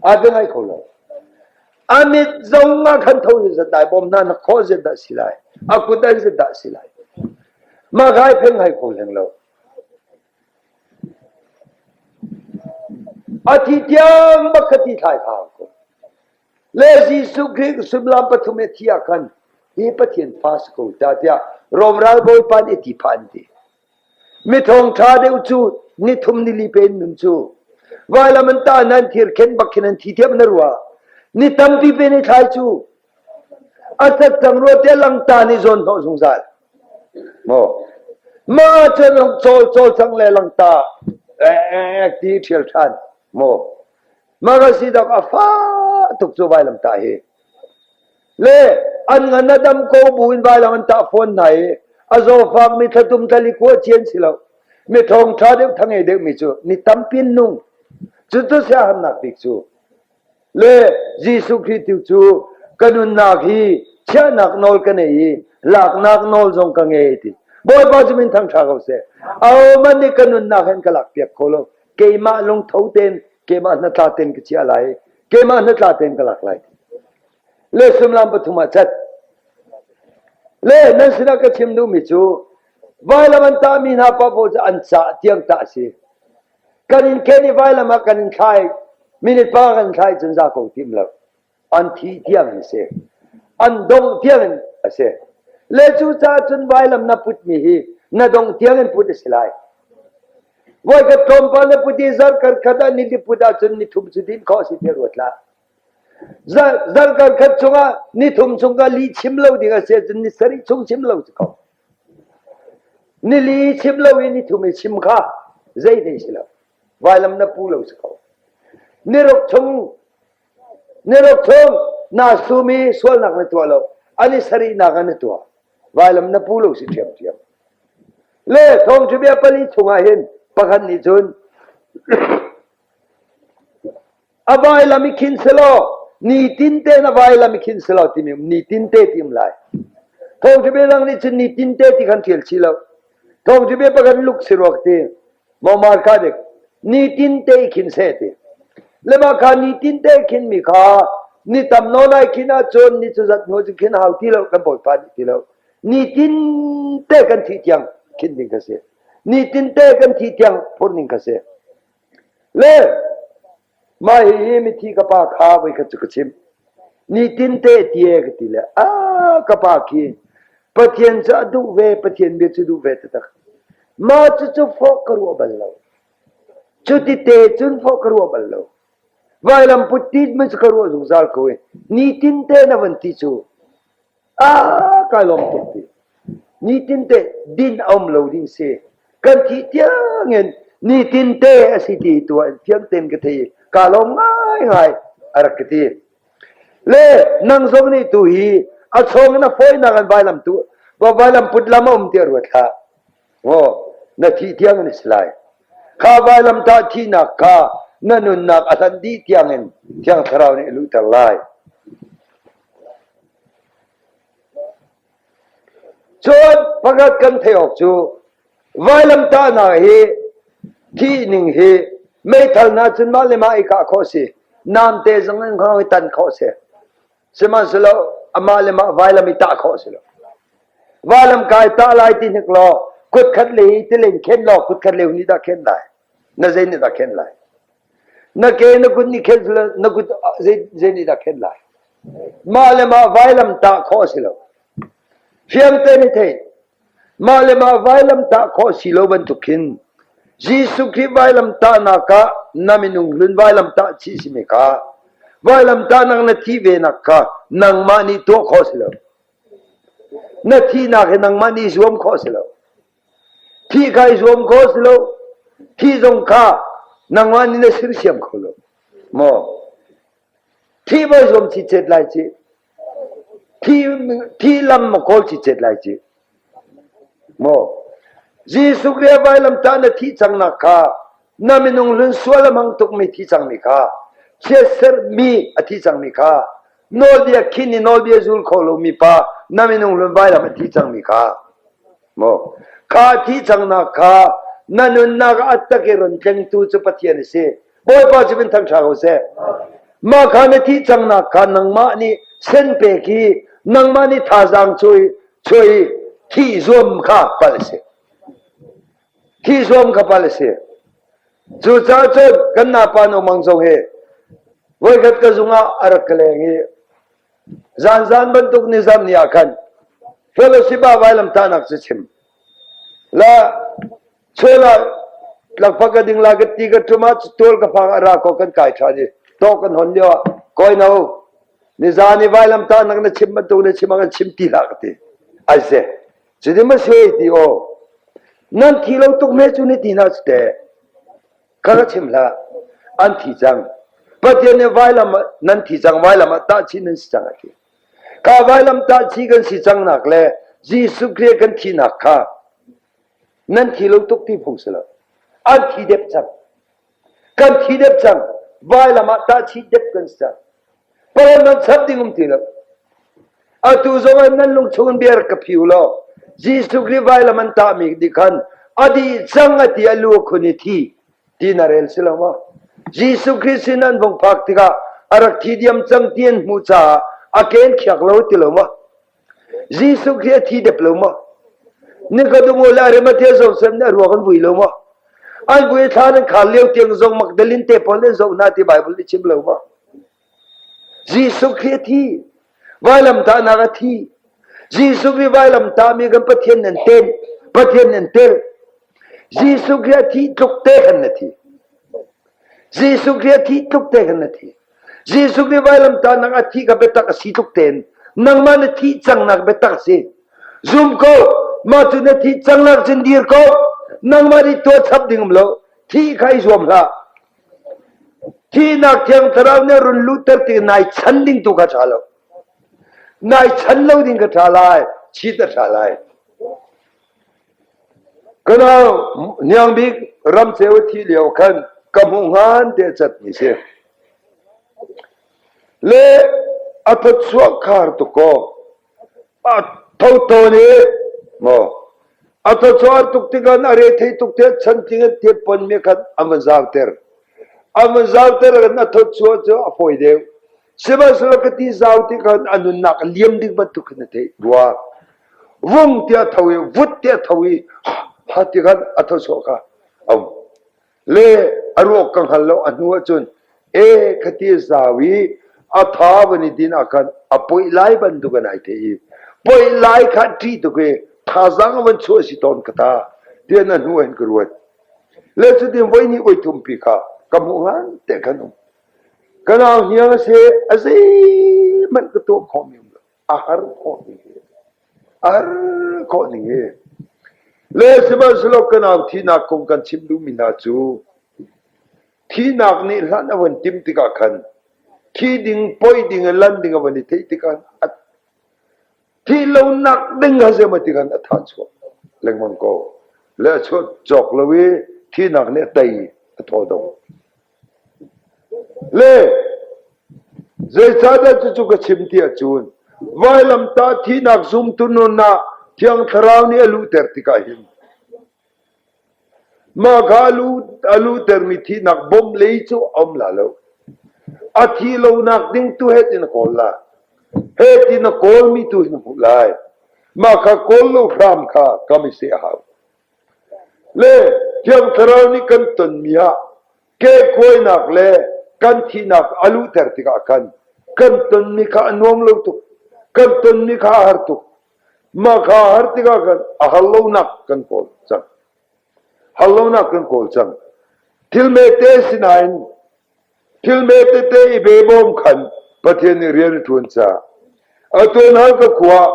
A ding ai kho lo. A mit zong ah khan tho in zatlai bawm hna na khawh zet dah si lai. A kut ai zet dah si lai. Mah kai pheng hai kho leng lo. A thi tiang bak ka ti thlai kha ko. Le Jesuh Khrih sullam pathum e thi ah khan hi Pathian fa si ko ta tiah Rom ral Bawipa nih a ti phan ti. Miṭhawng ṭha deuh cu nithum nili pe in nun cu. Vailam an tah hna, an thir khen bak khin an thi thiam na rua. Ni tampi pe ni thlai cu. A sat cang rua te langta nih zawn hnawh zungzal. Maw mah cun cawl cawl sang le langta ti ṭhial ṭhan. Maw mah ka si dok a fa tuk cu vailam ta hi. Le an ngan a dam ko buin vailang an tah fawn hna i a zawfak mi thlatum thlali kua ci an si lo mi thawng ṭha deuh thangei deuhmi cu ni tampi nung cucu siahamnak bik cu le Jesuh Khrih tu cu ka nunnak hi chiahnak nawl ka nei i laknak nawl zong ka ngei ti Bawipa cu min thang ṭha ko seh a man nih ka nunnak hen ka lak piak kho lo keimah lungtho ten keimah hnatla ten ka chia lai keimah hnatla ten ka lak lai le sullam pathum ah cat. Le nan sinah ka chim duhmi cu vailam an tahmi hna pa pawl cu an caah tiang ta a si. Kan in ken i vailam ah kan in thlai, minute pa kan thlai cun za ko tim lo. An thi tiang an si. An dong tiang a si. Le cu ca cun vailam na putmi hi na dong tiang in put a si lai. Voi ka tlawm pa na put i zarh kar khat ah ni li put ah cun ni thum cu din khawh si te ruat la. Zarhkar khat chungah nithum chungah li chim lo ding a si ahcun ni sarih chung chim lo si ko. Nili chim lo i nithum i chim kha zeithei si lo. Vailam na pu lo si ko. Niruk chung niruk chung na sumi sualnak na tuah lo. Ani sarihnak ah na tuah. Vailam na pu lo si ṭhiam ṭhiam. Le thawng cu bia pali chungah hin pakhat nih cun A vailam i khin selaw, nitin tein a vailam i khin selaw timi nitin te ti um lai. Thawngṭhibe dang nih cun nitin te ti khan ṭial chih lo. Thawngṭhibe pakhat luk si ruak ti, mawmar ka dek, nitin te i khin se ti. Lema kha nitin te khin mi kha, ni tam no lai khin ahcun, ni cu zat hnu cu khin hau ti lo, kan bawipa nih ti lo. Nitin te kan thih tiang khin ding ka si. Nitin te kan thih tiang phur ning ka si. Le mah hihi mithi ka pa kha voikhat cu ka chim. Nitin te tie ka ti le a ka pa khi Pathian cu a duh ve Pathian bia cu duh ve taktak. Mah cucu fawk ka ruah bal lo. Cuti te cun fawk ka ruah bal lo. Vailam put ti man cu ka ruah zungzal ko i nitin te na van ti cu kai lawm tuk ti. Nitin te din a um lo ding si. Kan thih tiang in nitin te a si ti tu an thiam ten ka thei ka lawm ngai ngai a rak ka ti. Le nang zong nih tu hi a chong na phoi na kan vai lam tu va vai lam put lam a um ti ruat la. Maw na thih tiang an si lai. Kha vailamtah thihnak kha na nunnak a hlan dih tiangin Thiang Thlarau nih a luhter lai. Cun pakhat kan theih awk cu vailamtahnak hi thih ning hi meithal na cun mah le mah i kah khawh si. Namte zong in khawh hi tan khawh si. Sihmanhsehlaw amah le mah vailam i tah khawh a si lo. Vailam kai tah lai ti hnik law kutkhat le hi tilen khen law kutkhat le ni dah khen lai. Na zei nih dah khen lai? Na ke na kut ni khen na kut zei nih dah khen lai? Mah le mah vailam tah khawh a si lo. Fiang te ni thei. Mah le mah vailamtah khawh si lo bantuk khin Jesuh Khrih vailamtahnak ah na minung hlun vailamtah chih si mee ka. Vailamtahnak na thih venak kha nangmah nih tuah khawh si lo. Na thihnak hi nangmah nih zuam khawh si lo. Thih kha i zuam khawh si lo. Thih zong kha nangmah nih na sersiam kho lo. Maw? Thih voi zuam chi chet lai chi. Thi lam maw kawl cit cet lai cih? Maw Jesuh le vailamtah na thih cangnak kha na minung hlun sual a hmang tukmi thi cangmi kha chiatserhmi a thi cangmi kha nawlbia khin i nawlbia zul kho lomi pa na minung hlun vailam a thi cangmi kha maw kha thi cangnak kha na nunnak ah a tak i ron tlengtu cu Pathian a si Bawipa cu min thangṭha ko seh. Mah kha na thih cangnak kha nangmah nih sen pek i nangmah nih thazaang cui chuai thih zuam kha pal a si. Thih zuam kha pal a si. Cucaah cun kan napa Nong Mang Zong hi voikhat ka zung ah a rak ka leng i zanzan bantuk nizam ni ah khan Philosipha vailamtahnak cu chim. La Chel ah lakpa ka ding la ka ti ka ṭum ah tual ka phang ara ko kan kai ṭhan i to kan hon lio ah koi no nizan i vailam ta nak na chim bantuk na chim an chim ti la ka ti ai se ci di ma se ti o nan thi lo tuk me chu ni ti na ste ka ka chim la an thi chang pathian ne vailam nan thi chang vailam ta chin nan si chang a ti ka vailam ta chi kan si chang nak le Jesu Christ kan thi nak kha nan thi lo tuk ti phung si lo an thi dep cang kan thi dep cang vailam ah tahchi dep kan si cang palam nan chap ding um ti lo atu zong an nan lungchung biar ka phiu lo Jesuh Khrist vailam an tah mi di khan adi chang ati alu khuni thi ti na rel si lo ma Jesuh Khrist sin an vong phak tikah arak thi diam chang tien mu cha aken khiak lo ti lo ma Jesuh Khrih a thi dep lo maw? Na ka dung u le Arimathea zong sem nih a ruak an vui lo maw? An vui thla nan khar lio tiang zong Magdalene te pawl nan zoh hna ti Baibal nih chim lo maw? Jesuh Khrih a thi. Vailamtahnak a thi. Jesuh hi vailamtah mi kan Pathian nan ten. Pathian nan tel. Jesuh Khrih a thi tluk te kan na thi. Jesuh Khrih a thi tluk te kan na thi. Jesuh nih vailamtah nang a thih kha biatak a si tluk tein nangmah na thih cangnak biatak a si. Zum ko, mah cu na thih cangnak cun dir ko. Nangmah nih tuah chap ding um lo. Thih kha i zuam hlah. Thihnak thiang thlarau nih run luhter ti nai chan ding tu kha tha lo. Nai chan lo ding ka tha lai, chit a tha lai. Kana Hniang Bik ramcheu i thih lio khan ka hmuh ngan te cat mi si. Le a thawchuah khar tu kaw a thoto ni maw a thawchuah tuk tikhan a re thei tuk te chan ting an tiet pon me khan a mazar ter a mazar ter kan a thawchuah cu a foi deuh Sihmanhsehlaw ka ti zau ti khan a nunnak a liam ding bantuk khan na theih rua. Vung tiah tho i vut tiah tho i ha ti khan a thosawh kha a um. Le a rawk ka hngal lo a hnu ahcun e ka ti zau i a tha van i din ah khan a poih lai bantuk an ai the i poih lai kha ṭi tuk i thazang van chuah si tawn ka ta tian a hnu an ka ruat le cutin voi ni oi thum pi kha ka hmuh ngan te kan um Ka nau hniang a si, a zeihmanh ka tuah khawhmi a har khawhmi hi a har khawh ning hi le sihmanhsehlaw ka nau thihnak kong kan chim duhmi hna cu thihnak nih hlan a van timh tikah khan thi ding poi ding in lan ding a van i theih tikah a thih lo nak ding ha zeima ti khan a tha chuah lengmang ko le a chuak cawk lo i thihnak nih tei a thaw dong Le zeicahdah cucu ka chim ti ahcun vailamtah thihnak zumtu nun ah Thiang Thlarau nih a luhter tikah hin mah kha a luhtermi thihnak bom lei cu a um la lo. A thi lonak ding tu het in a kawl la. Het in a kawlmi tu hin hmuh lai. Mah kha kawl lo hram kha kam i seh hau. Le Thiang Thlarau nih kan tonmi ah kehkuainak le kan thihnak a luhter tikah khan kan tonmi kha a nuam lo tuk. Kan tonmi kha a har tuk. Mah kha a har tikah khan a har lonak kan kawl cang. Har lonak kan kawl cang. Thil mete sinain Thil hme tete i pe bawm khan Pathian nih rian a ṭuan caah a tuanhal ka khua ah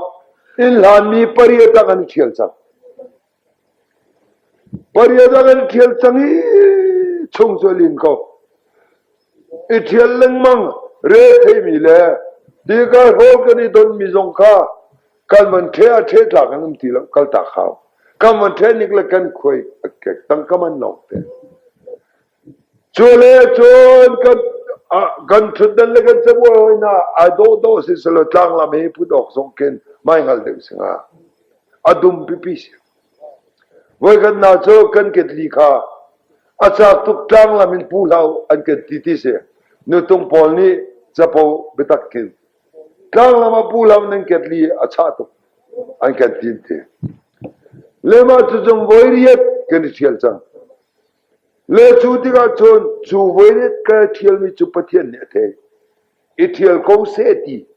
inn hlanmi pariat ah kan i ṭhial cang. Pariat ah kan i ṭhial cang i chung cu a lin ko. I ṭhial lengmang re theimi le dikar hol kan i donmi zong kha kan van ṭhe a ṭhe tlak an um ti lo, kaltak hau. Kan van ṭhe nik le kan khuai a kek tang ka man lawng te. Cule cun kan ṭhutdan le kan cabuai hawinak ai dawhdawh siselaw tlanglam hi put awk zong khin maihngal deuh si hnga. A dum pipi si. Voikhatnak cu kan ketli kha a cak tuk tlanglam in pu hlau an kan ti ti si. Nutung pawl nih capo biatak khin tlanglam a pu hlau nan ketli a chah tuk an kan tin ti. Lema cu cung voi riat kan i ṭhial cang. Le cu tikah cun cu voilet kal ṭhialmi cu Pathian nih a theih, i ṭhial ko seh ti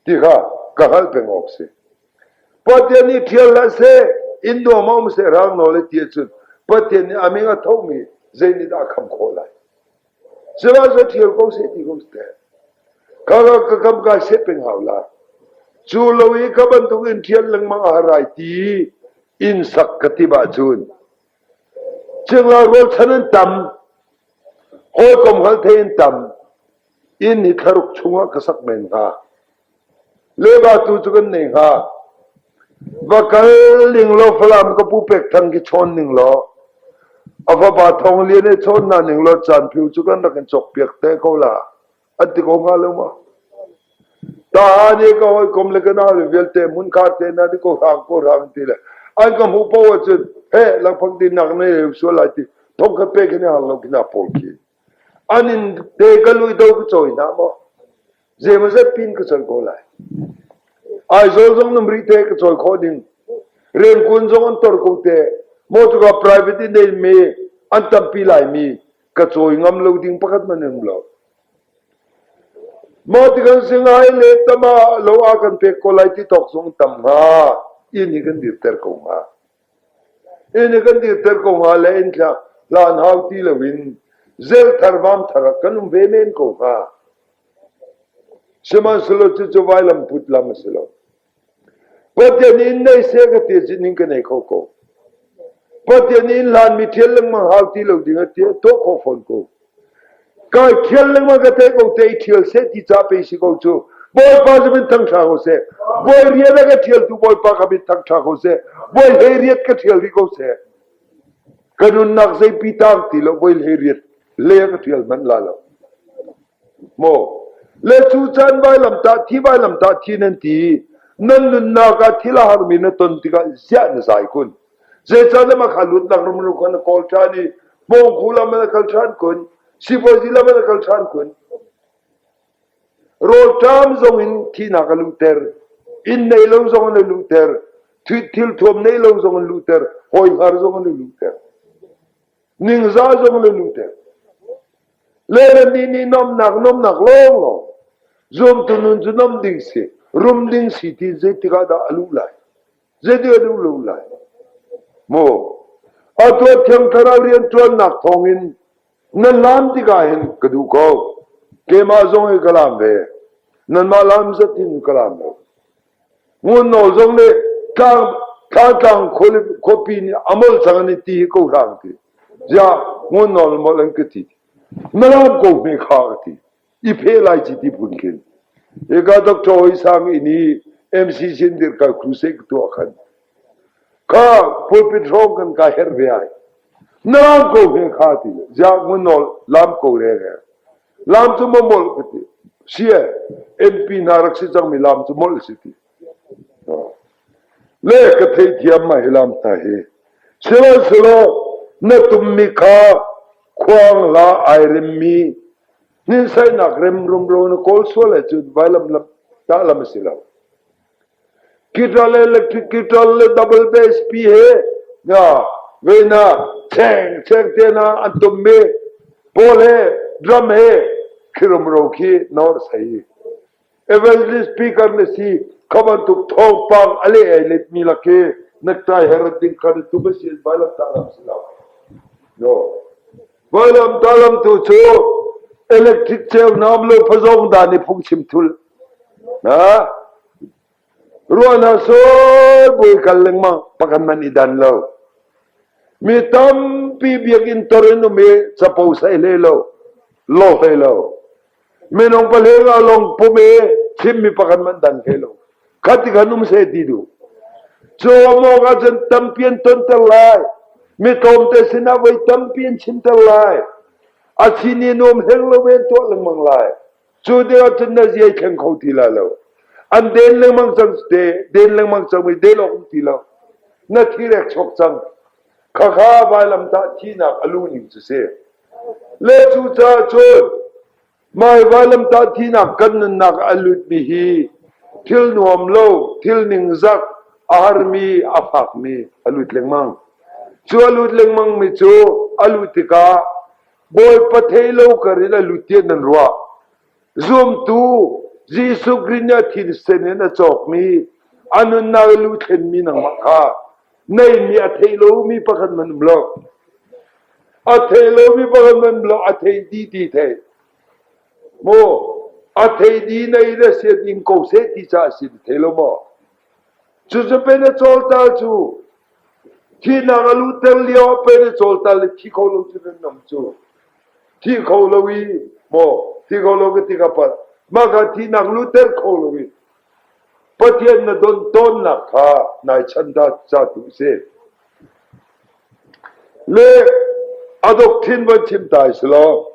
ti kha ka hngalh peng awk a si. Pathian nih ṭhial hlah seh, in nuam a um seh, rang nawl le ti ahcun Pathian nih a min a thomi zeinihdah a kham khawh lai? Sihmanhsehlaw ṭhial ko seh ti ko teh. Kha kha ka kam kai set peng hau lai. Cu lo i ka bantuk in ṭhial lengmang a har ai ti in sak ka timh ahcun Cingla rualchan an tam, awlkom hngalthei an tam, inn hi thlaruk chungah ka sak men hnga. Lebatu cu kan nei hnga. Va kal ning law Falam ka pu pek thang khi chawn ning law a fapa thong lian he chawn na ning law caan phiu cu kan rak in cawk piak te ko la. an ti ko hnga lo ma. Ta nih ka hawikom le ka na le vialte mun kha te na ni ko rang ko rang ti le an ka hmu po ahcun he langphang din nak ne sual lai ti thong ka pe kene hang lo kina pol ki an in te ka lui do ka choi na mo ze ma zat pin ka choi ko lai ai zol zong nam ri te ka choi kho ding ren kun zong an tor ko te mo tu ka private in nei me an tampi lai mi ka cawi ngam lo ding pakhat hmanh an um lo. Maw tikan singai le tama lo a kan pek ko lai ti tok zong tam hnga in i kan dir ter ko hnga. In i kan dir ter ko hnga le in thla hlan hau ti lo in zel thar vam thar kan um ve men ko hnga. Sihmanhsehlaw cu cu vai lam put lam a si lo. Pathian inn nei seh ka ti ning ka nei kho ko. Pathian inn hlanmi thial lengmang hau ti lo ding a ti tuah kho fawn ko. Kai thial lengmang ka te ko te i thial seh ti ca pe si ko cu. Bawipa cu min thang tha ko seh. Bawi rian ka thial tu Bawipa ka min thang tha ko seh. Bawi he riat ka thial ri ko seh. Ka nunnak zei pi tang ti lo Bawi he riat le ka thial man la lo. Maw le cu caan vailamtah thi vailamtah thi nan ti i nan nunnak ah thil a harmi na ton tikah ziah na zai kun? Zeicah na mah kha luatnak rumru kha na kawl ṭhan i pawngku lam na kal ṭhan kun? Sipuazi lam na kal ṭhan kun? Rawlṭam zong in thihnak a luhter, inn nei lo zong in a luhter, thil thuam nei lo zong in luhter, hawi hngar zong in a luhter. Ningza zong le nuteng. Le le nih nih nomnak nomnak lawnglawng. Zumtu nun cu nom ding si. Rum ding si ti zeitik ah dah a luh lai. Zeitik ah luh lai. Mo. Atu thiang thlarau rian tuannak thawngin nan lam tikah hin ka duh ko. Keimah zong hi ka lam ve. Nanmah lam zat in ka lam lo. Ngunnaw zong le Tlangtlang khuapi nih a molh cang an i ti hi ko hlah an ti. Ziah Ngunnaw le molh an ka ti. Malam ko hme kha ka ti. I phe lai ci ti phun khin. Eka Dr. Oi Sang in i MC Sindir ka crusade ka tuah khan. Ka pulpit hrawng kan ka her ve ai. Nalam ko hme kha ti. Ziah Ngunnaw lam ko re re. Laam cu mamolh ka ti. Si e, MP hna rak si cangmi laam cu molh si ti. Le ka theithiam ma hi laam ta hi. Sihmanhsehlaw na tummi kha khuang la ai remmi hninsainak rem rumro na kawl sual ahcun vailam lam, tah lam a si lo. Guitar le electric guitar le double bass pi he venak chengcheng tenak an tummi pawl he drum he khirumro khi nawr sei. Evangelist speaker na si kha bantuk thawngpang a leh ai letmi laki naktai herot ding kha tu ba sin vailam talam si lo. No. Vailam talam tu cu electric cheu nam lo phazong da ni phung chim thul Ruah hna sawh buai kal lengmang pakhat man i dan lo. Mi tampi biakinn tor in um i capo sai hlei lo, lo hlei lo. Minung pale nga long pum i thimmi pakhat man dan hlei lo. Kati kan um se ti du. Cawmawk ah cun tampi an tonter lai. Mi tlawmte sinah voi tampi an chimter lai. A chin in um heng lo ven tuah lengmang lai. Cu te ahcun na zia i thleng kho ti la lo. An den lengmang cang te, den lengmang cang i del awk um ti lo. Na thi rek chok cang. Khakha vailam tah thihnak a lu ning cu si. Le cu cun mai vailam tah thihnak kan nunnak a lutmi hi thil nuam lo, thil ningzak, a harmi, a fakmi a lut lengmang. Cu a lut lengmang mi cu a lut tikah Bawipa thei lo kar in a lutian nan ruah. Zumtu Jesuh Khrih nih a thinsen in a cawkmi, a nunnak i lu thlenmi nangmah kha neimi a thei lomi pakhat man um lo. A thei lomi pakhat man um lo, a thei ti ti thei. Mu, a thei di nei le sian in ko seh ti ca a si thei lo maw? Cucapen a cawltal cu thihnak a luhter lioah pen a cawltal i thi kho lo cun an um cu. Thi kho lo i maw thi kho lo ka ti ka palh. Mah kha thihnak luhter kho lo i Pathian na don tawnnak kha nai chan ta ca tu a si. Le adokthin van chim ta si law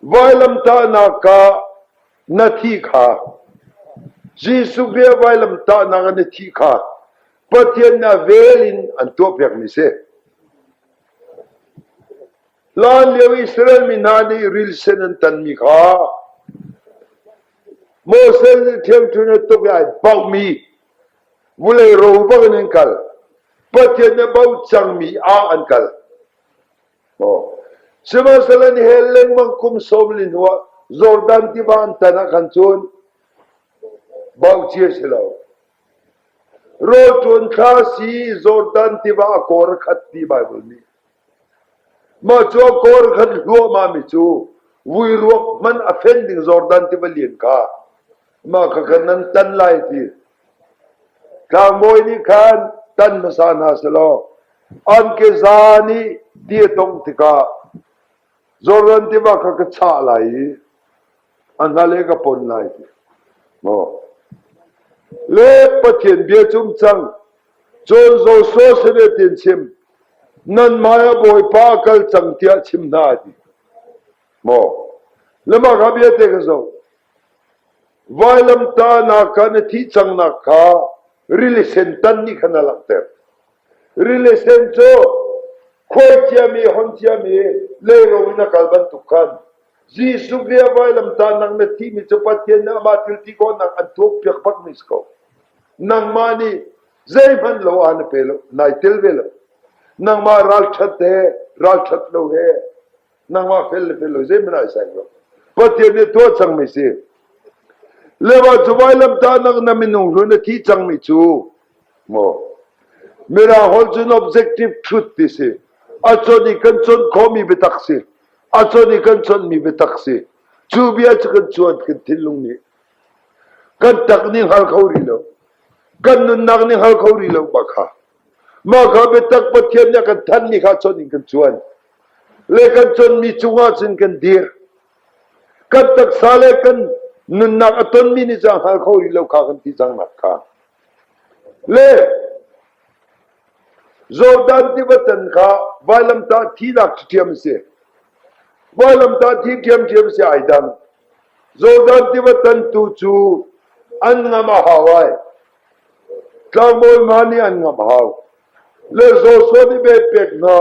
vailamtahnak ka na thih kha Jesuh vel vailamtahnak in na thih kha Pathian nih a vel in an tuahpiakmi a si. Hlanlio Israel mi hna nih rilsen an tanmi kha Moses nih ṭhiamṭhunh a tuk i ai bauhmi vulei ro bangin an kal. Pathian nih a bauh cangmi ah an kal. Sihmanhsehlaw nihel lengmang kum sawm li hnuah Jordan tiva an tan ah khan cun bauci a si lo. Rawlṭun thla si Jordan tiva a kawr khat ti Baibal nih. Mah cu a kawr khat hluahmahmi cu vui ruak hmanh a fen ding Jordan tiva lian kha mah kha khan nan tan lai ti Tlangbawi nih khan tan hmasa hna selaw an keza nih di a tongh tikah Jordan tiva kha ka chah lai i a hnale ka pon lai ti. Maw le Pathian bia cum cang, cun Joshua sineh chim, nanmah ah Bawipa kal cang tiah chim hna a ti. Maw le mah kha biate ka zoh. Vailamtahnak kha na thih cangnak kha rilisen tan nih khan a langhter. Rilisen cu khuaiciami, honshiami leiro in a kal bantuk khan Jesuh le vailamtahnak na thimi cu Pathian nih amah thilti kawhnak an thuak piak pakmi si ko. Nangmah nih zeihmanh lo ah na pe lo, nai tel ve lo. Nangmah ralṭhat he, ralṭhat lo he nangmah fel le fel lo zeiman ai sai lo pathian nih tuah cangmi si lewa cu vailam ta nak na minung hlun na thi cangmi cu mo mira hol cu objective truth ti si a chon i kan chon khomi biatak si a chon i kan chonmi biatak si cu bia cu kan chuan kan thinlung nih kan tak ning hal kho rih lo kan nunnak ning hal kho rih lo ma kha ma kha biatak pathian nih kan than ni kha chon in kan chuan le kan conmi cungah cun kan dir. Kan taksa le kan nunnak a tonmi nih cun hngal kho rih lo kha kan ti cang nak kha. Le Jordan tivatan kha vailamtah thi lak thiam si. Vailamtah thi thiam thiam si ai dan. Jordan tivatan tu cu an ngam a hawai. Tlangbawi ma nih an ngam hau. le Joshua nih beh pek hna.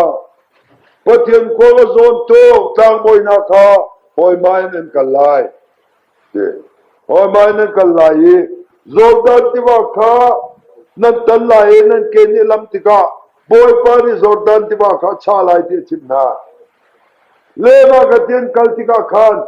Pathian khua ka zawn tuk tlangbawinak kha hawima in an kal lai. Ti. Hawima in an kal lai i Jordan tiva kha nan tan lai i nan ke nih lam tikah Bawipa nih Jordan tiva kha cha lai ti a chimh hna. Le mah ka tian kal tikah khan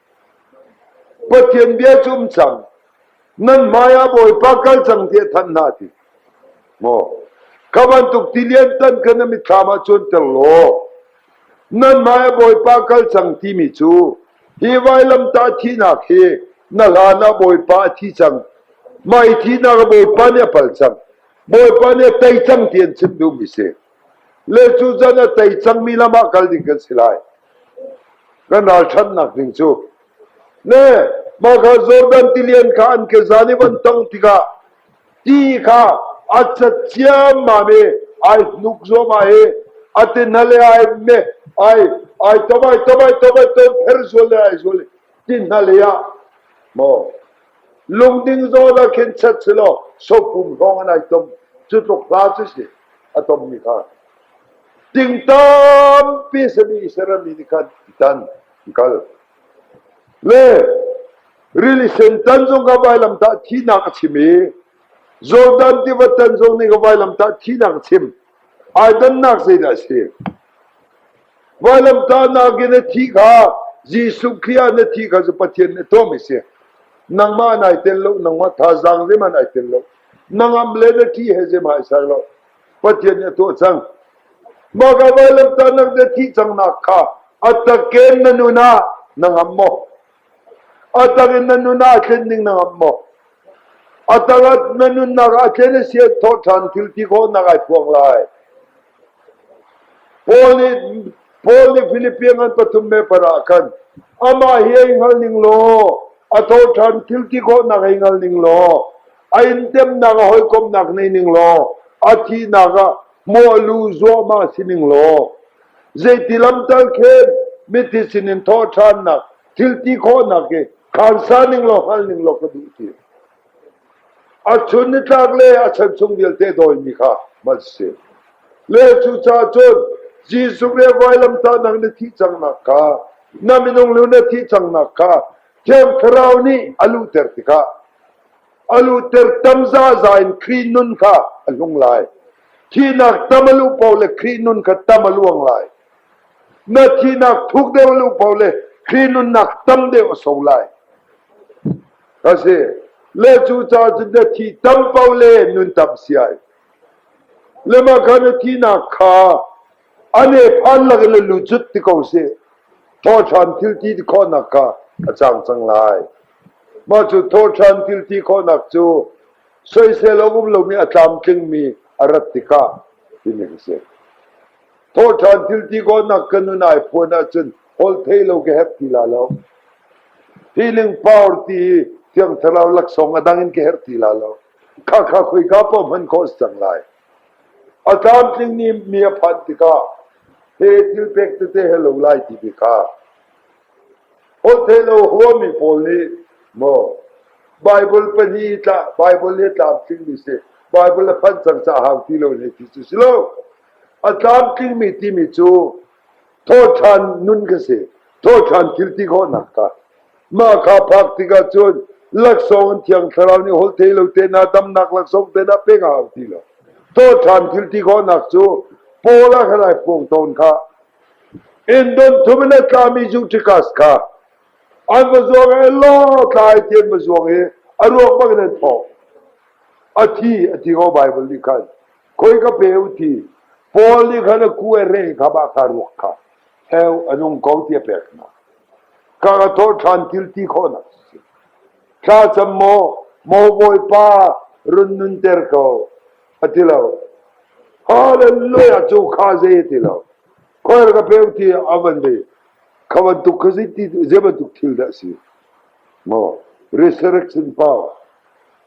Pathian bia cu um cang. Nan hmaiah Bawipa kal cang tiah thanh hna ti. Maw ka bantuk ti liantan kha na mitthlam ah cuanter law nan hmaiah Bawipa kal cang timi cu hi vailamtah thihnak hi na hlan ah Bawipa a thi cang. Mai thihnak Bawipa nih a pal cang. Bawipa nih a tei cang ti an chim duhmi si. Le cucan a tei cangmi lam ah kal ding kan si lai. Kan ralṭhannak ding cu. Ne, mah kha Jordan tilian kha an ke zan i van tong tikah ti kha a cat ciammam i ai hnuk zuamah i a tinale ai me ai ai tom ai tom ai tom ai tom pher zual le ai zual i tinale ah maw Lungding zawn ah khin chet selaw sopum hrawng an ai tom. Cu tluk hla cu si a tommi kha. Ting tampi sami serami nih khan tan kal. Le rili sen tan zong ka vailam tah thinak a chim i Jordan tiva tan zong nih ka vailam tah thinak a chim. Ai dannak zeidah a si? Vailamtahnak in na thih kha Jesuh Khrih ah na thih kha cu Pathian nih tawm a si. Nangmah nai tel lo, nangmah thazaang zeihmanh ai tel lo. Nangam le na ṭhi he zeihmanh ai ser lo. Pathian nih a tuah cang. Mah ka vailamtahnak na thih cangnak kha a takin na nun ah na ngam maw? A takin na nun ah tlen ning na ngam maw? A tak na nunnak ah tlen a si thawh ṭhan thil ti khawhnak ai phuang lai. Paul nih Philippians an pathum me par ah khan amah hi ei hngal ning law a thawhṭhan thil ti khawhnak ei hngal ning law a intemnak a hawikomhnak nei ning law a thihnak ah mawh lu zuahmah si ning law zeiti lamtal khen mithi sinin thawhṭhannak thil ti khawhnak hi khansa ning law hngal ning law ka duh ti. A chun nitlak le a chan chung vialte dawimi kha hman si. Le cucaah cun Jesuh le vailamtahnak na thih cangnak kha na minung lu na thih cangnak kha Thiang Thlarau nih a luhter tikah a luhter tam zazai in Khrih nun kha a hlung lai. Thihnak tam a luh paoh le Khrih nun kha tam a luang lai. Na thihnak thuk deuh a luh paoh le Khrih nunnak tam deuh a so lai. ka si. Le cucaah cu na thi tam paoh le nun tam si ai. Le mah kha na thinak kha a ne phan lakin le lu cut ti ko si. Thawhṭhan thilti ti khawhnak kha a cang cang lai. Mah cu thawhṭhan thilti khawhnak cu soisel a um lomi a tlamtlingmi a rat tikah timi ka si. Thawhṭhan thil ti kawnnak ka nun ai phuan ahcun holthei lo ka herh ti la lo. Feeling power ti hi Thiang Thlarau laksawng a dang in ka herh ti la lo. Kha kha khoi ka pa hman ko cang lai. A tlamtling ni mi a phan tikah he thil pek tete he lo lai ti bi kha. Holthei lo huami pawl nih maw Bible pani tla Bible le tlamtling ni si Bible a phan cang ca hau ti lo ne ti cu si lo. A tlamtlingmi timi cu thawhṭhan nun ka si, thawhṭhan thil ti khawhnak kha. Mah kha phak tikah cun laksawng an thiang thlarau nih holh thei lo tehna damnak laksawng tehna pek a hau ti lo. Thawhṭhan thil ti khawhnak cu Paul a kan pawng tawn kha Indon thum in a tlami Justikas kha an va zuang i lo tlai ti an va zuang i a ruak bang in an thawh. A thi a ti ko Baibal nih khan. Khoi ka pe u ti Paul nih khan a ku e re kha bah ka ruak kha heu a nung ko ti a pek hna ka ka thaw ṭhan thil ti khawhnak si thla cham maw maw bawipa run nunter ko a ti lo hallelujah cu kha zei a ti lo khoer ka pe ti a van ve khawan tuk kha zei ti zei bantuk thil dah si maw resurrection power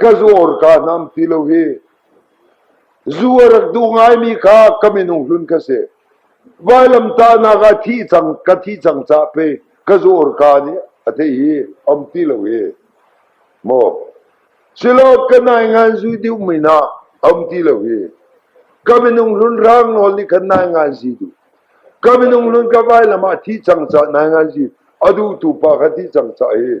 ka zuar kaa hnam ti lo hi. Zu a rak duh ngaimi kha ka minung hlun ka si. Vailamtahnak ah thi cang ka thi cang cah pe ka zuar kaa nih a te hi am ti lo hi. Maw silo ka nai ngan zu diu min ah am ti lo hi. Ka minung hlun rang nawl nih khan nai ngan zi du. Ka minung hlun ka vailam ah thi cang cah nai ngan zi adu tu pa kha thi cang cah hi.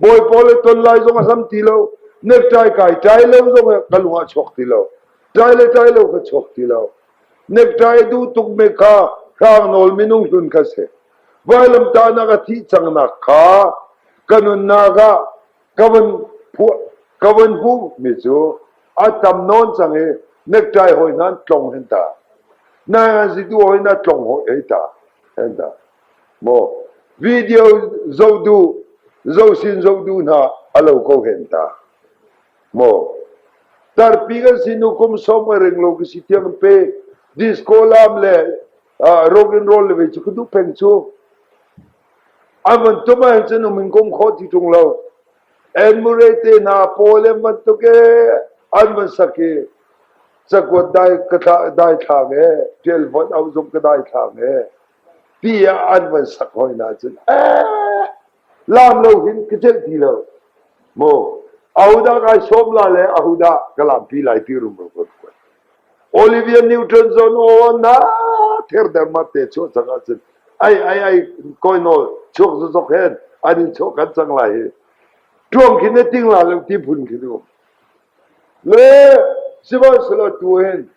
Bawi pawl le ton lai zong a hlam ti lo. Nektai kai tai lo zong ka lung ah chuak ti lo. Tai le tai lo ka chuak ti lo. Nektai du tuk me kha hrang nawl minung hlun kha se. Vailam ta na ka thi chang nak kha kanunnak ah kawan kawan hu mi chu atam non chang e nektai hoi nan tlong hen ta. Na ngan si tu hoi na tlong hoi e ta. En ta. Video zoh duh, zosin zoh duh hna a lo ko hen ta. Maw tarpi kan sinu kum som a ring lo ka si tiang pe disco lam le uh, rock and roll le ve cu ka duh peng cu avan tuma hin cun umin kum kho ti tung lo enmure te na po le man to ke an man saki chakuat dai ka dai thlang e tel vot au zum ka dai thlang e pi ah an van sak hoi nacun ee laam lo hin ka celh ti lo maw ahodah kai sawm la le ahodah ka laampi lai pi rum rum rum kuat Olivia Newton zon o na ther der ma te chuak sang ahcun ai ai ai koi nawl chuak zozok hen an in chuak kan sang lai hi tuam khin ne ting la lo ti phun khin um Le sihmanhsehlaw tu hin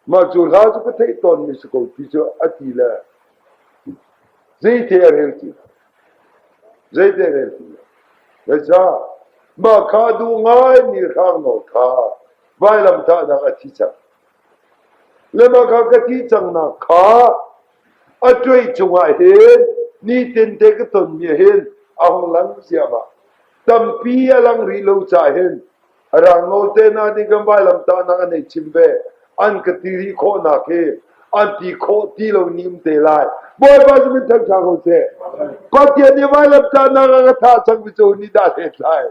mah cu hla cu ka theih tawnmi si ko ti cu a ti le zeite a rel ti zeite a rel ti Veca mah kha duh ngaimi hrangnawl kha vailam thahnak a thi cang. Le mah kha ka thi cangnak kha a tuai cungah hin nitin te ka tonmi hin a hong lang ziamah. Tampi a lang rih lo ca hin Rang naute hna nih kan vailamtahnak an hei chim ve. An ka ti rih khawhnak hi an ti khawh ti lo nim te lai. Bawipa cu min thang ṭha ko seh. Pathian nih vailamtahnak a ka thah cang mi cu nih dah hlen lai.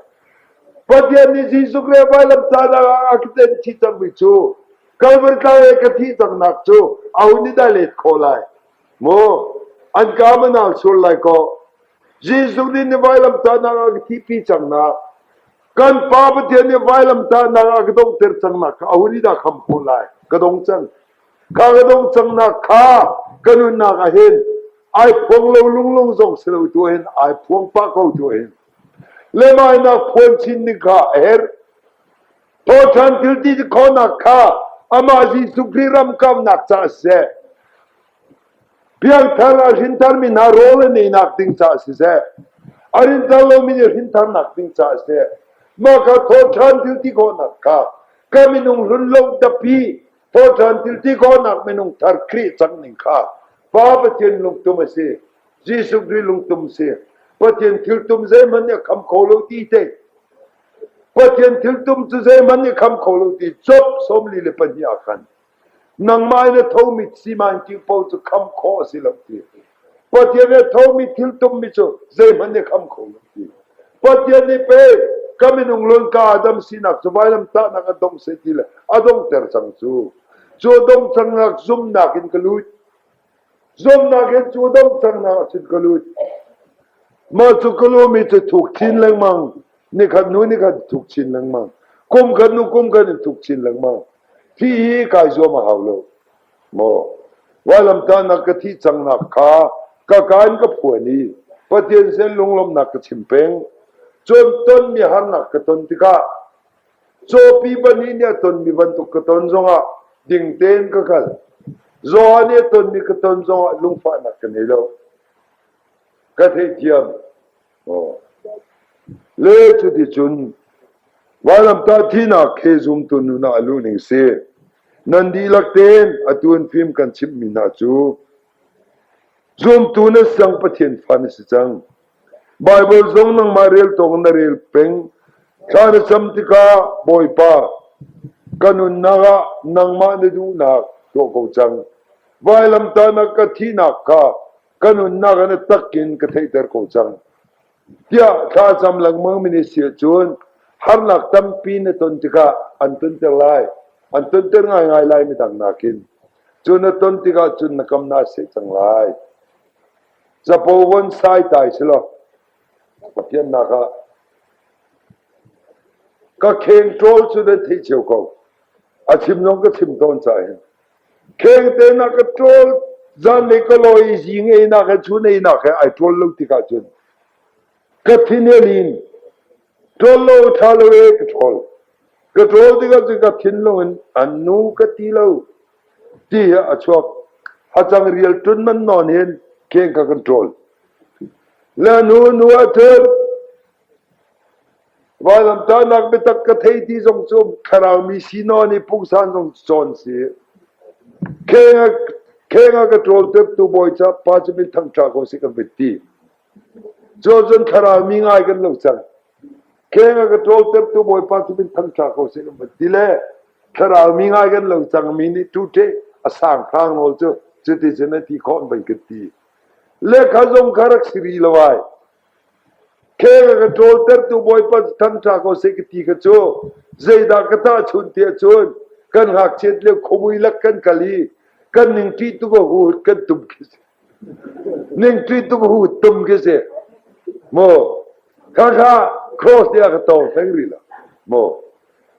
Pathian nih Jesuh Krih vailamtahnak a ka ten chih cang mi cu Calvary tlang i ka thih cangnak cu aho nih dah let khawh lai? Mu, an ka manal sur lai kaw, Jesuh nih na vailamtahnak a ka thihpi cangnak Kan pa Pathian nih vailamtahnak ah ka donghter cangnak kha a hun i dah kham khawh lai. Ka dong cang. Ka ka dong cangnak kha ka nunnak ah hin ai phuang lo lunglung zong si lo tu hin ai phuang pah ko tu hin lemainak phuan chin ding kha a herh. Thawhthan thil ti khawnak kha amah Jesuh Khrih ram kamnak caah seh. Biakthar a hrintharmi hna rawl a neinak ding caah siseh, a rinthar lomi nih hrintharnak ding caah siseh, mah kha thawhṭhan thil ti khawhnak kha ka minung hlunlo dapi thawhṭhan thil ti khawhnak minung thar Khrih cang ning kha Pa Pathian lungtum a si. Jesuh Khrih lungtum a si. Pathian thiltum zeihmanh nih a kham kho lo ti te. Pathian thiltum cu zeihmanh nih a kham kho lo ti Job sawmli le pahnih ah khan Nangmah in a thomi siman kingpo cu khamh khawh a si lo ti. Pathian nih a thomi thil tummi cu zeihmanh nih khamh kho lo ti. Pathian nih pe ka minung lun ka Adam sinak cu vailamtahnak a dong seh ti le a dongter cang cu. Cu a dong cangnak zumnak in ka lut. Zuamnak in cu domhsaknak a chit ka lut. Mah cu ka lumi cu thuk chin lengmang. Nikhat hnu nikhat thuk chin lengmang. Kum khat hnu kum khat in thuk chin lengmang. Hi hi kai zuam a hau lo. Maw vailamtahnak ka thih cangnak kha ka ka in ka phuan i Pathian sen lunglawmhnak ka chim peng. Cun tonmi harnak ka ton tikah Cawpi pahnih nih a tonmi bantuk ka ton zongah ding tein ka kal. Zaw nih a tonmi ka ton zongah lungfahnak ka nei lo. Ka theithiam. Oh. Le cu ti cun Vailamtah thinak ke zumtu nunak a luhning si. Nan dihlak tein atu an fim kan chimhmi hna cu zumtu na sang Pathian fa na si cang. Baibal zong nangmah rel tawk na rel peng. Ca na cam tikah, Bawipa, ka nunnak ah nangmah na duhnak tuah ko cang. Vailamtahnak ka thihnak kha ka nunnak ah na tak in ka theihter ko cang. Tiah thlacam lengmangmi nih siahcun harnak tampi na ton tikah an tonter lai. An tonter ngaingai lai midang nakin. Cu na ton tikah cun na kam na seh cang lai. Capo von sai ta hi si law ka fiannak ah ka kheng ṭawl cu nan theih cio ko. A chim zong ka chim tawn ca hin. Kheng te na ka ṭawl zan le ka lawi zi ngei nak he chu nei nak he ai ṭawl lo tik ahcun ka thin a lin. Ṭhawl lo, ṭha lo e, ka ṭhawl. Ka ṭhawl tikah cu ka thinlung in an nu ka ti lo ti hi a chuak. Hacang rial ṭun man nawn hin keng ka kan ṭawl. La nu nu a ṭul. Vailamtanak biatak ka thei ti zong cu thlarau mi si nawn i pungsan zong cawn si. Kheng a ka ṭawl tuk tu bawi ca pa cu min thang ṭha ko si kan bit ti. Cuau cun thlarau mi ngai kan lo cang. Kheng a ka ṭawltertu Bawipa cu min thangṭha ko seh kan van ti le thlarau mi ngai kan lo cang mi nih ṭute a sanghrang nawl cu cuticun a ti khawh vai kan ti. Lekha zong kha rak si rih lo ai. Kheng a ka ṭawltertu Bawipa cu thangṭha ko seh ka ti kha cu zeidah ka tahchun tiah cun kan ngakchiat lio khomui lak kan kal i kan ning ṭih tu ka hut kan tum khi si. Ningṭi tumhu tum khi a si. Maw khakha cross tiah ka tong hleng rih lo. Maw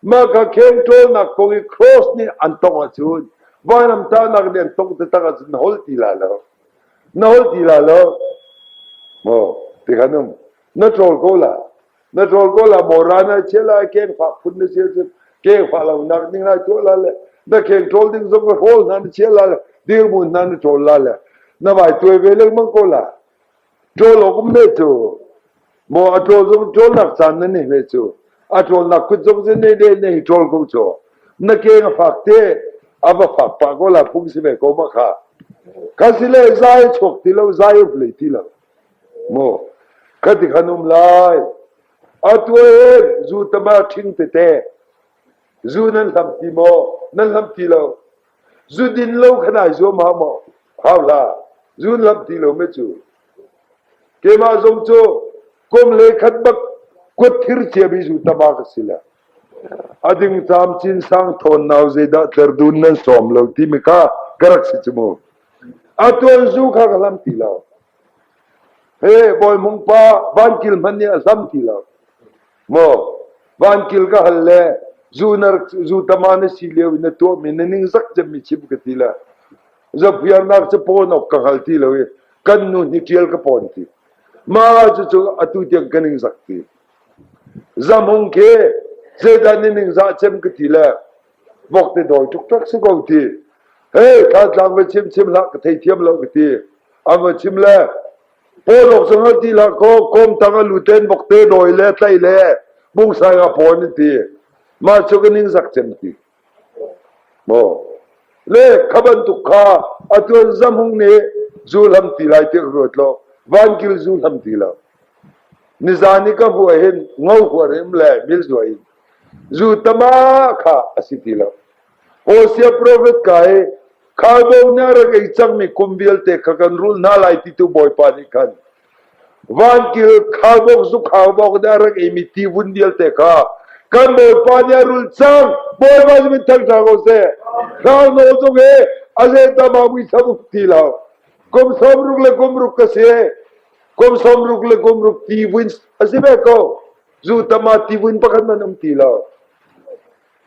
mah kha kheng ṭawlnak kong i cross nih an tongh ahcun vainamtahnak nih an tongh taktak ahcun na holh ti la lo. Na holh ti la lo. Maw ti khan um na ṭawl ko la. na ṭol ko la maw ran ah chiah lai keng fah phun na sia cun keng fah lo nak ding lai tuah la le na keng ṭol ding zong rawl hna na chiah la le dirmun hna na ṭol la le na vai tuai ve leng mang ko la ṭol okum ne cu mo a ṭol zong ṭol nak chan na ne ve cu a ṭol nak kut zong zin ne de ne ṭol ko cho na keng fak te a va fak pa ko la phung si ve ko ma kha kasile zai chok ti lo zai up le ti lo Ka ti khan um lai. Atu hin zu tama ṭhing tete. Zu nan hlam ti maw? Nan hlam ti lo. Zu din lo khan ai zuam hau maw? Hau la. Zu nan hlam ti lo me cu. Keimah zong cu kum le khat bak kut thir ciami zu tama ka si la. Ading tam chin sang thawn nau zeidah tler dun nan sawm lo ti mi kha ka rak si cu mu. A tuanzu kha ka hlam ti lo. He Bawi Hmung pa van kil hmanh nih a hlam ti lo. Maw van kil ka hal le zunar zu tama na si lio in na tuahmi na ning zak cem mi chim ka ti le zafiarnak cu pawn awk ka hngal ti lo i kan nu hi ṭial ka pawn ti. Ma cucu atu tiang ka ning zak ti. Zamhung khi zeidan na ning za cem ka ti le Bok te dawi tuktak si ko ti. Hei, tlaatlang va chimchim hlah ka thei thiam lo ka ti. A va chim le, Polok sang ha ti la ko, komtang a luten bok te dawi le, tlai le, bung sai nga pon ti. Ma chu ka ning sak chem ti. Mo. Le, kaban tuk kha, atuan zamhung ne, zu lam ti lai te ka ruat lo. Van kil zu lam ti lo. Nizaan i ka hmuh ahhin ngo huarim le milzuai in zu tama kha a si ti lo. Hosea profet ka i khalbo nih a rak ei cangmi kum vialte kha kan rul hna lai ti tu Bawipa nih khan vankil khalbok zu khalbok nih a rak eimi tivun vialte kha kan Bawipa nih a rul cang. Bawipa nih min thang hna ko seh. Hrangno zung hi a zeitama muisam uk ti lo. Kum sawm ruk le kum ruk ka si. Kum sawmruk le kum ruk tivins a si ve ko. Zutam ah tivin pakhat man um ti lo.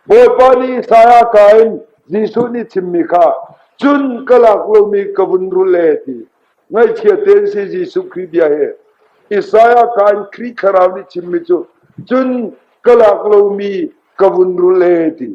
Bawipa nih Isaiah ka in Jesuh nih chimmi kha cun ka lak lomi ka vun rul le ti ngaihchia tein si Jesuh Khrih bia he Isaiah ka in Khrih Thlarau nih chimmi cu cun ka lak lomi ka vun rul le ti